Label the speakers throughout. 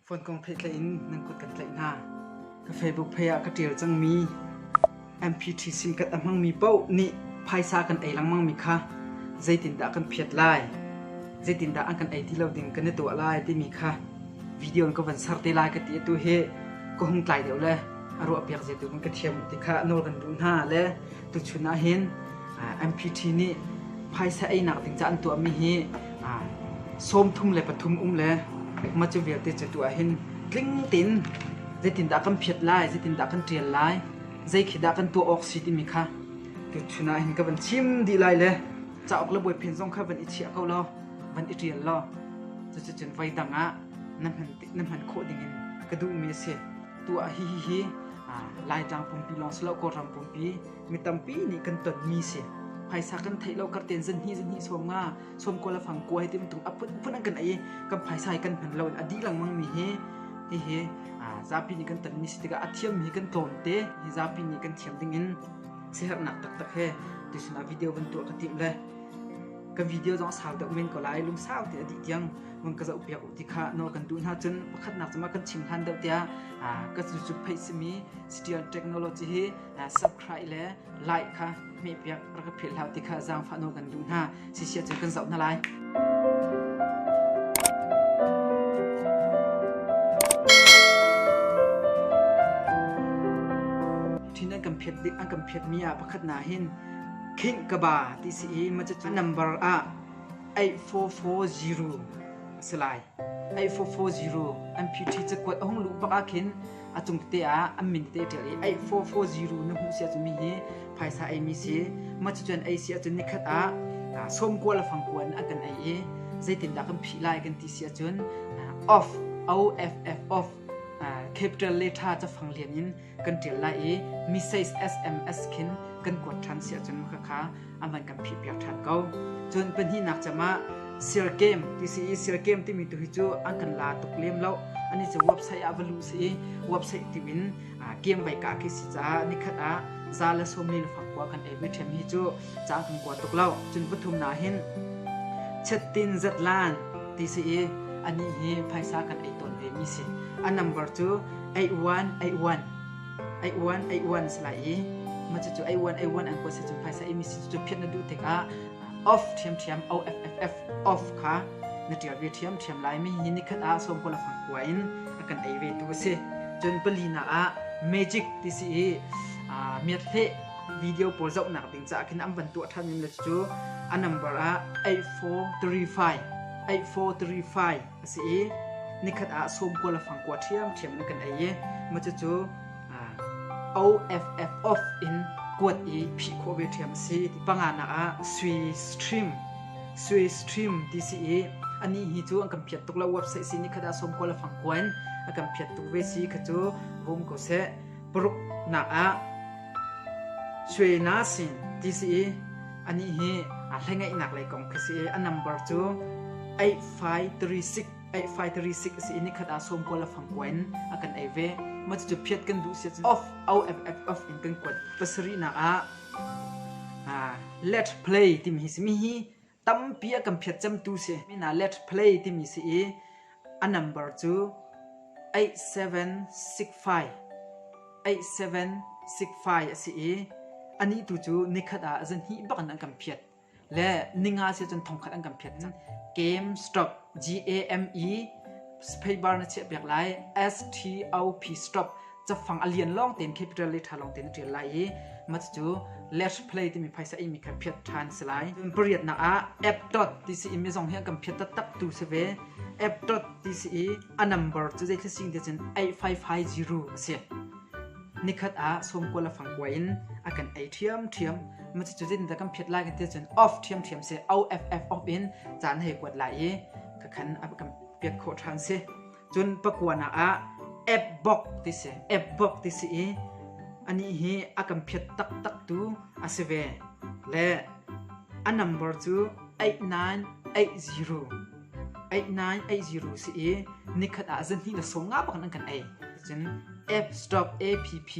Speaker 1: Fonhkong theih tlaih in nan kut kan tlaih hna. Ka Facebook pei ah ka ṭial cangmi MPTC kan a hmangmi paoh nih phaisa kan ei lengmangmi kha zeitindah kan phiat lai, zeitindah an kan ei ti lo ding kan i tuah lai timi kha video in ka von ser te lai ka ti. Atu hi ka hung tlai deuh le a ruahpiak zia tu in ka thiam ti kha nawl kan duh hna le Tuchun ah hin MPT nih phaisa einak ding ca an tuahmi hi sawmthum le pathum um le mah cu vialte cu tu ah hin tling tein zeitindah kan phiat lai zeitindah kan ṭial lai zei khi dah kan tuah awk si timi kha tuchun ah hin ka van chim dih lai le cauk le buai phin zong kha van i chiah ko law van i ṭial law cucun voi dang ah na hman khawh ding in ka duhmi a si tuah hihihi laitlang pumpi lawng si lo kawlram pumpi mi tampi nih kan tonmi si phaisa kan theih lo karten zanhnih zanhnih som nga som kuala fang kua hi tim tung aput put an kan ai kan phaisa hi kan hman lo in adi langmang mi hi hihi zapi nih kan tonmi si tikah a thiam mi kan tlawm te hi zapi nih kan thiam ding in sihernak taktak he tisunah video van tuah ka tim le ka video zong sau deuh men ko lai lungsau ti a dih tiang hmang ka zoh piak uh ti kha nawl kan duh hna cun pakhatnak cuma kan chim hlan deuh tiah ka cu phei simi digital technology hi subscribe le like kha hme piak ra ka philh hlau ti kha zaangfah nawl kan duh hna sisia cun kan zoh hna lai thin an kan phet an kan phet mi ah pakhat na hin khing kaba ti si i maca number ah 844 a si lai. 844 an phi cakuat a hung luh bak ah khin a cung tete ah an min tete ṭial i 8440 na hmuh si ahcun mi hi phaisa ei mi si cucun ei si ahcun nikhat ah sawmkua le fangkua in a kan ei i zeitindah kan phih lai kan ti si ahcun off off off capital lettera cafang lian in kan ṭial lai i Message SMS khin kan kuat ṭhan si ahcun khakha aman kan phihpiak ṭhan ko. Cun pahnihnak cem ah Sir Game TCE Sir Game timi tu hi cu an kan la tuk lem lo ani cu website ah va luh si i website ti in game vai ka khi si caah nikhat ah za le sawm li le fak khua kan ei ve ṭhem hi cu ca kan kuat tuk lo. Cun pathumnak hin Chettin Zetlan ti si i anih hi phaisa kan ei tawn ve mi si. A number cu 8181 8181 se lai i ma cu an kuat se cun phaisa ei mi si cu phiat na duh tikah off ṭhiamṭhiam OFFF off kha na ṭial ve ṭhiamṭhiam lai mi hi nikhat ah sawmkua la fang kua in a kan ei ve tu a si cun pali na ah magic ti si i miat hleh video pawl zohnak ding caah khin an van tuah ṭhan in le cu a number ah 8435 8435 a si i nikhat ah sawm kua le fang kua ṭhiamṭhiam in kan ei i ma cu OFF off in kuat i phih khawh ve ṭhiam a si ti panganak ah Swiss Stream Swiss Stream ti si i ani hi cu an kan phiat tuk lo website si nikhat ah sawm kua le fang kua in a kan phiat tu ve si kha cu vung ko seh paruk nak ah Shwe Na Sing ti si i ani hi a hlengaihnak lei kong khi si i a number cu 8536 8536 si i nikhat ah som kuala fang kuen a kan ei ve ma cu phiat kan du sia off out off in kan kuat pasari nak ah ah let's play timi hi simi hi tampi a kan phiat cemtu si. Mina let play timi si i a number cu 8765 8765 a si i anih tu cu nikhat ah zan hnih bak in an kan phiat le ninga si cun thongkhat an kan phiat game stop g a m e spacebar na chiah piak lai s t o p stop cafang a lian lawng tein capital le tha lawng tein tial lai i mat cu let's play timi phaisa i mi kha phiat than si lai pariat nak ah app dot tci mi zong hi kan phiat tak tu si ve app dot tci a number cu zei thil sing te cun 8550 a si nikhat a som kuala fang kwa in a kan ei thiam thiam ma chu jin da kan phiat lai kan te cun off thiam thiam se off off in chan he kwat lai i ka khan ab kam piak kho thang se Cun pakuanak ah Ebbok ti si, Ebbok ti si i anih hi a kan phiat taktaktu a si ve. Le a nambar cu 8980 8980 si i nikhat ah zan hnih le sawm nga bak an kan ei. Cun F stop APP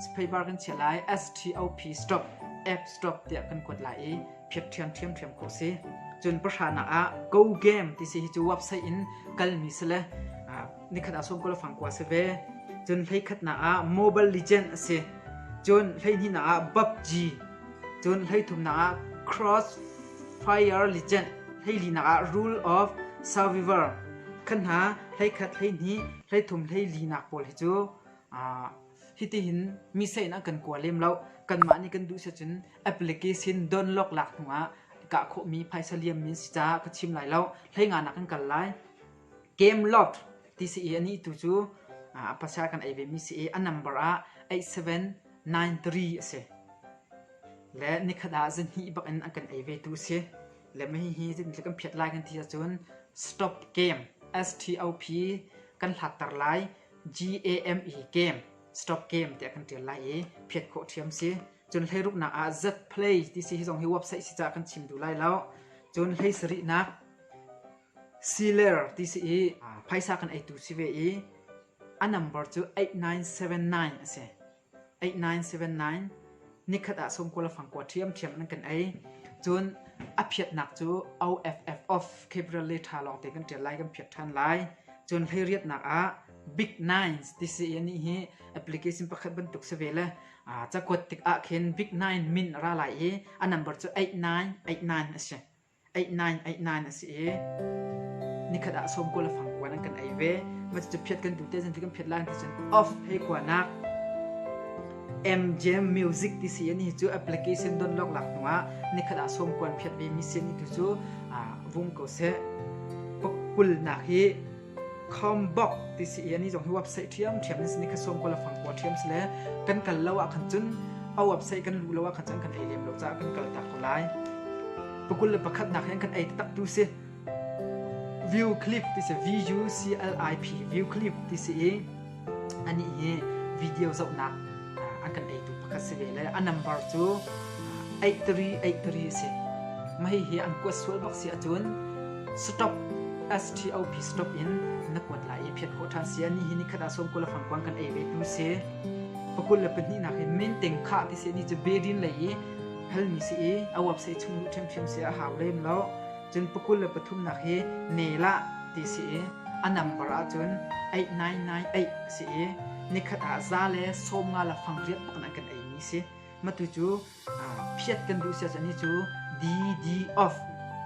Speaker 1: sphebar kan chia lai S T O P stop F stop tiah kan kuat lai i phiat ṭhiam ṭhiamṭhiam khawh si. Cun pahranak ah go game ti si hi cu website in kalmi si le nikhat ah sawmkula fangkua si ve. Cun hleikhatnak ah Mobile Legend a si. Cun hleihnihnak ah PUBG. Cun hleithumnak ah Crossfire Legend. Hleilinak ah Rule of Survivor. Khan hna hleikhat hleihnih hleithum hleilinak pawl hi cu hiti hin mi seinak kan kua lem lo. Kanmah nih kan duh si cun application download lak hnu ah ka khawhmi phaisa liam min si caah ka chim lai lo hlei nga nak in kal lai game lot ti si i ani tu cu a pasal kan ei ve mi si i a number ah 8793 a si le nikhat ah zan hnih bak in an kan ei ve tu si le mai hi zan kan phiat lai kan ti ahcun stop game s t o p kan hlatter lai g a m e game stop game tiah kan tial lai i phiat khawh thiam si Cun hleiruknak ah Z play ti si hi zong hi website si caah kan chim duh lai lo. Cun hlei sarihnak Siler ti si i phaisa kan eitu si ve i a number cu 8979 a si. 8979 nikhat ah sawmkua le fangkua ṭhiamṭhiam in kan ei. Cun a phiatnak cu OFF of Capital Letters lawng te kan ṭial lai kan phiat ṭhan lai. Cun hleiriatnak ah Big Nines ti si i anih hi application pakhat bantuk si ve le cakuat tikah khin Big Nine min ra lai i a number cu 89 89 a si 89 89 a si i nikhat ah som kuala fang kuan an kan ei ve ma cu phiat kan tu te zan kan phiat lai ti cun off hei kuanak MJM Music ti si ani chu application don lok lak nuwa nikhat ah som kuan phiat ve mi si ni tu chu vung ko se kul nak hi Khawmbok ti si i ani zong hi website ṭhiamṭhiam in si ni kha sawm kul a fang kua ṭhiam si le kan kal lo ah khan cun a website kan luh lo ah khan cun kan ei lem lo caah kan kal tak ko lai. Pakul le pakhatnak hi an kan ei taktak tu si. View clip ti si V U C L I P view clip ti si i anih hi video zohnak an kan eitu pakhat si ve le a number cu 8383 a si mahi hi an kuat sual bak si acun stop STOP stop in na kuat lai i phiat khawh than si ani hi ni khata som ko la fang kwang kan ei ve tu se pakul le pahnih nak hin min teng kha ti se ni chu bedin lei i hal mi si i awap se chung lu them them se a haw lem lo Cun pakul le pathumnak hi Nelah ti si i a nambar ahcun Eih Nai Nai Eih a si i nikhat ah za le sawm nga la fang riat pakin an kan eimi si. Matu cu phiat kan duh siah cani cu DD of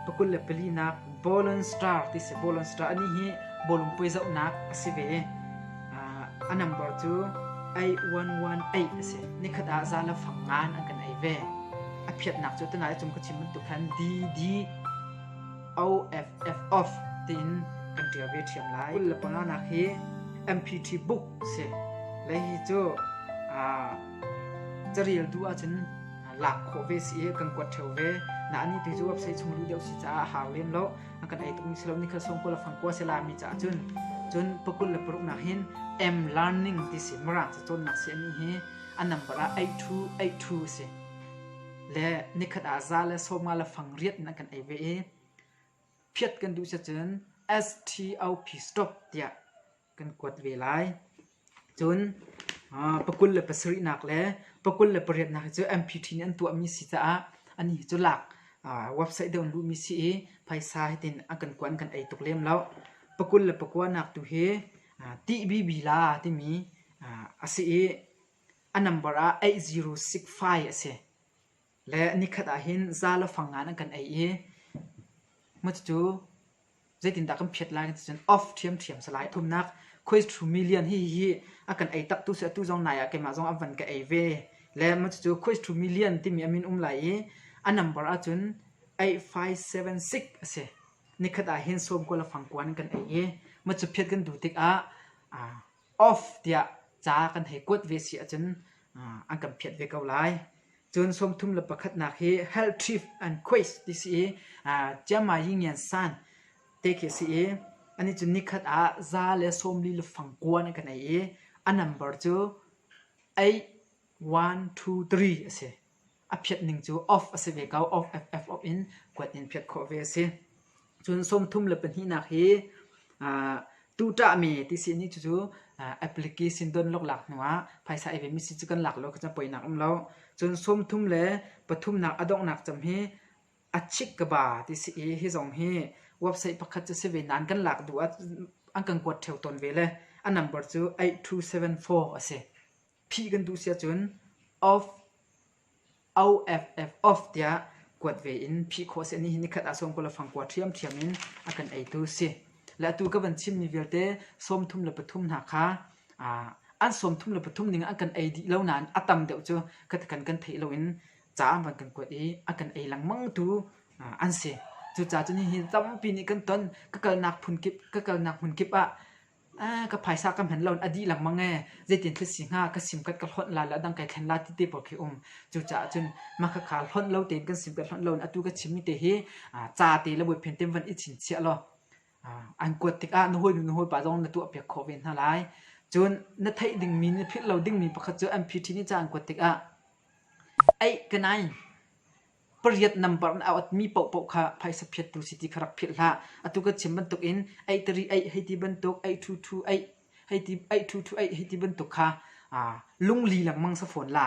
Speaker 1: pakul le pali nak Bowlon Star ti si Bowlon Star ani hi bawlung puai zohnak a si ve. a nambar cu ei uan uan ei a si nikhat ah za la fang ngan an kan ei ve a phiatnak cu tana cum ka chim bantuk khan d d o f f off tiin kan ṭial ve ṭhiam lai kul le panga nak hi mpt book si lei hi cu carial du ahcun lak khawh ve si i kan kuat theo ve na ani tu cu website chung lu deuh si caah hau lem lo a kan ei tung si lo ni khal song kula fang kwa se la mi cha chun chun pakul le paruk nak hin m learning ti si mara cha ton nak si ani hi a number a 8282 si le nikhat a za le soma le fang riat na kan ei ve i phiat kan du se chun stop tia kan kuat ve lai. Cun pakul le pasarihnak le pakul le pariatnak hi cu MP ṭhin an tuahmi si caah ani hi cu lak website deuh in luhmi si i phaisa hitin a kan kuan kan ei tuk lem lo. Pakul le pakuanak tu hi TBBla timi a si i a number ah 8065 a si. Le nikhat ah hin za le fang ngan an kan ei i cucu zeitindah kan phiat lai kan ti cun off ṭhiamṭhiam si lai. Thumnak khuai ṭhumi lian hihi a kan ei tak tu si atu zong nai ah keimah zong a van ka ei ve. Le cucu khuai ṭhumi lian timi a min um lai i a nambar ahcun eight five seven six a si. Nikhat ah hin sawm kua le fang kua in kan ei i cu phiat kan duh tikah off tiah ca kan hei kuat ve si ahcun an kan phiat ve ko lai. Cun sawmthum le pakhatnak hi health trip and quiz ti si i Chiamma Yingian San te khi a si i anih cu nikhat ah za le sawmli le fangkua in kan ei i a number cu eight one two three a si. a phiat ning cu off a si ve ko. Off FF in kuat in phiat khawh ve a si. Cun sawmthum le pahnihnak hi uh, tu ṭahmi ti si ni cucu uh, applique sin don lok lak hnuah phaisa ei ve mi si cu kan lak lo ka cam poinak um lo. Cun sawmthum le pathumnak a donghnak cam hi a chik ka ba ti si i hi zong hi website pakhat cu si ve nan kan lak duh ah an kan kuat theo tawn ve le a number cu 8274 a si. Phih kan duh si ahcun off, OFF, off tiah kuat ve in phih khawh a si. Nihin ni khat ah sawm kul le fang kua ṭhiamṭhiam in a kan eitu si. Le atu ka van chimmi vialte sawmthum le pathum hna kha aa, an sawmthum le pathum ning ah an kan ei dih lo nain a tam deuh cu khatekan kan theih loin ca an van kan kuat i a kan ei lengmangtu aa, an si. Cucaah cun hihi tampi nih kan ton. Ka kalnak phun kip, ka kalnak hmun kip ah ka phaisa ka hman lo in a dih lengmang ee zeitin thil si hnga ka sim kat ka hlonh la le a dang kai thlen la ti te pawl khi um cucaah cun mah khakha hlonh lo tein kan sim kat hlonh lo in atu ka chimmi te hi ca te le buai phen tem van i chinchiah law an kuat tikah na hawi nu na hawi pa zong na tuah piak khawh ve hna lai cun na theih dingmi na philh lo dingmi pakhat cu MPT nih ca an kuat tikah ei ka nai pariat nambar in a awtmi paohpaoh kha phaisa phiattu si ti kha rak philh hlah. Atu ka chim bantuk in eih tari eih hei ti bantuk, eih ṭhu ṭhu eih hei ti eih ṭhu ṭhu eih hei ti bantuk kha aa lungli lengmang sa fawn la.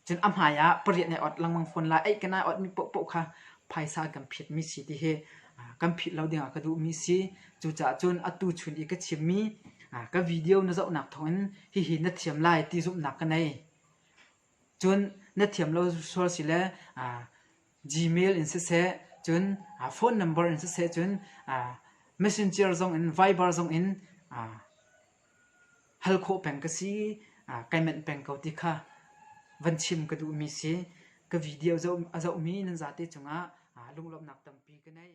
Speaker 1: Cun a hmai ah pariat nai ot lengmang fawn la. Eih kan ai otmi paohpaoh kha phaisa kan phiatmi si ti hi aa kan philh lo dingah ka duhmi si. Cucaah cun atu chun i ka chimmi aa ka video na zohnak thawngin hihi na thiam lai ti zumhnak ka nei. Cun na thiam lo sual si le Gmail in siseh cun phone number in siseh cun messenger zongin Viber zongin hal khawh peng ka si, kai manh peng ko ti kha van chim ka duhmi si. Ka video a zohmi nan zate cungah lunglawmhnak tampi ka ngei.